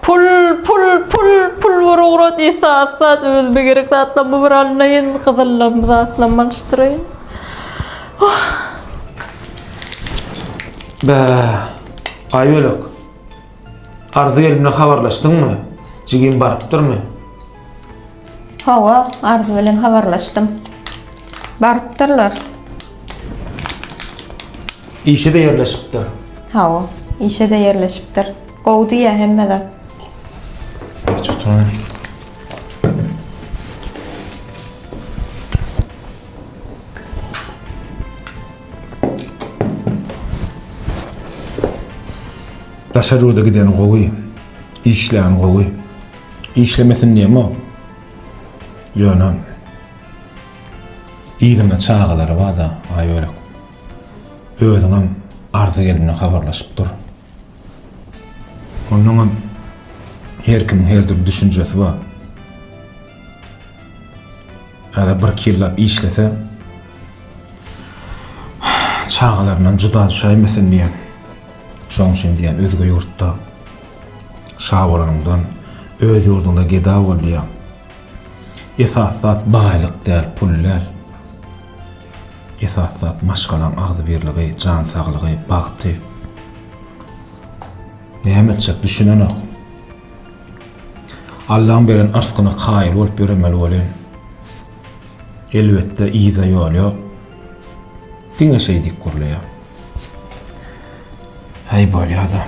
Pul, pul, pul, pul bir ugrat isa azzat özüme gerek zatlarymy bir alynayyn, gyzyllarmy zatlarymy alyşdyraýyn. Oh. Bä, Aýbölek. Arzy gelimle habarlaşdyňmy? Jigim barypdyrmy? Hawa, Arzy bilen habarlaşdym. Barypdyrlar. Işe de ýerleşipdir. Hawa, işe de ýerleşipdir. Gowy diýýä hemme zat. Hiç utanma. Daşary ýurda giden gowy, işleýän gowy. Işlemesin diýemok. Ýöne yzyna çagalary bar-da, aýörek. Özüňem arza gelende habarlaşyp dur. Onnoňam her kimiň her dürli düşünjesi bar. Häzir bir iki ýyllap işlese çagalaryndan juda düşäýmesin diýýän. Şoň üçin diýýän özge ýurtda şa bolanyňdan öz ýurduňda geda bol diýýän. Esasy zat baýlyk däl, pul däl. Esasy zat maşgalaň agzybirligi, jan saglygy, bagty. Näme etjek düşünenok. Allaň beren yrsgyna kaýyl bolup ýöremeli welin, elbetde yza ýol ýok. Diňe şeýdip gurlaýar. Häý bolýada.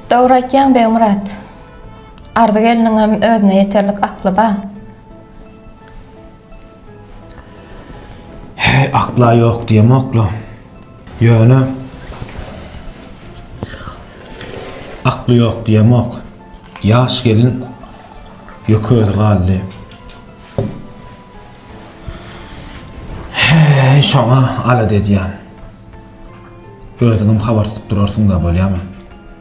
Dogry aýtýaň Begmyrat. Arzy gelniňem özüne ýeterlik akly bar. Heý, akla ýok diýemok-la. Ýöne akly ýok diýemok. Ýaş gelin ýökezi galdy. Heý, şoňa alada edýän. Özüňem habar tutup durarsyň-da, bolýamy?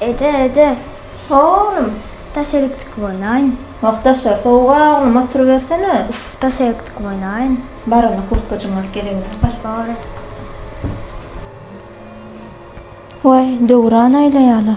Eje, eje, oglum, daş erik çykyp oýnaýyn. Wah, daşa sowuk-a, oglum, oturybersene. Uff, daş erik çykyp oýnaýyn. Bar onda, kurtkajyňy alyp geliňdir, bar. Bar. Waý, döwran aýlaýar-la.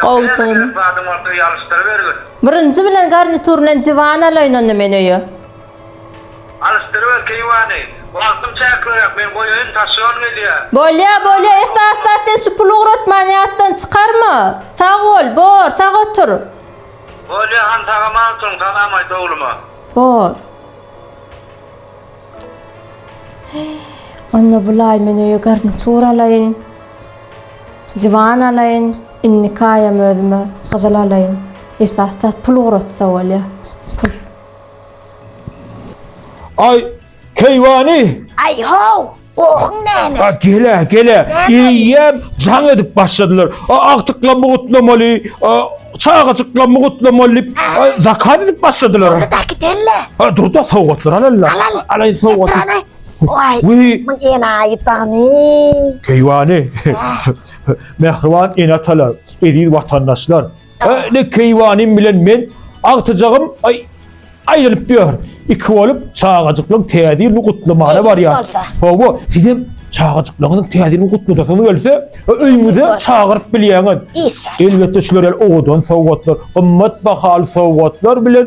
Goltugyny. Zadyň bolsa öýe alyşdyrybergin. Birinji bilen garnituryny diwan alaýyn onda men öýe. Alyşdyryber keýwany. Wagtym çäkliräk, men goýaýyn, taşýon gelýä. Bolýa, bolýa, esasda sen şu puly ugratman ýatdan çykarma. Sag bol, bor, sag otur. Bolýa, han sag-aman oturyň, salam aýt ogluma. Bor. Onda bulaý men öýe garnitur alaýyn. Diwan alaýyn. Indiki aýam özüme gyzyl alaýyn. Esas zat pul ugratsa bolýar. Pul. Aý, keýwany! Aý-how! Gohun näme? A gele, gele. Iýýäp, jaň edip başladylar. A agtyklamy gutlamaly, a çagajyklamy gutlamaly diýip, a zakaz edip başladylar. Dur da gidelle. A dur-da sowgatlar alalla. Alal. Alaý sowgaty. Seprany. Oý. Wiý. Bu enaýy bagny. Keýwany. Mähriban ene-atalar, eziz watandaşlar! Öyle keywanim bilen men agtyjagym ay aýrylyp diýär. Iki bolup çagajyklaryň täze ýylyny gutlamana barýar. Hawa, siz hem çagajyklaryňyzyň täze ýylyny gutladasy gelse, öýüňize çagyryp bilýäňiz. Elbetde şular ýaly owadan sowgatlar, gymmat bahaly sowgatlar bilen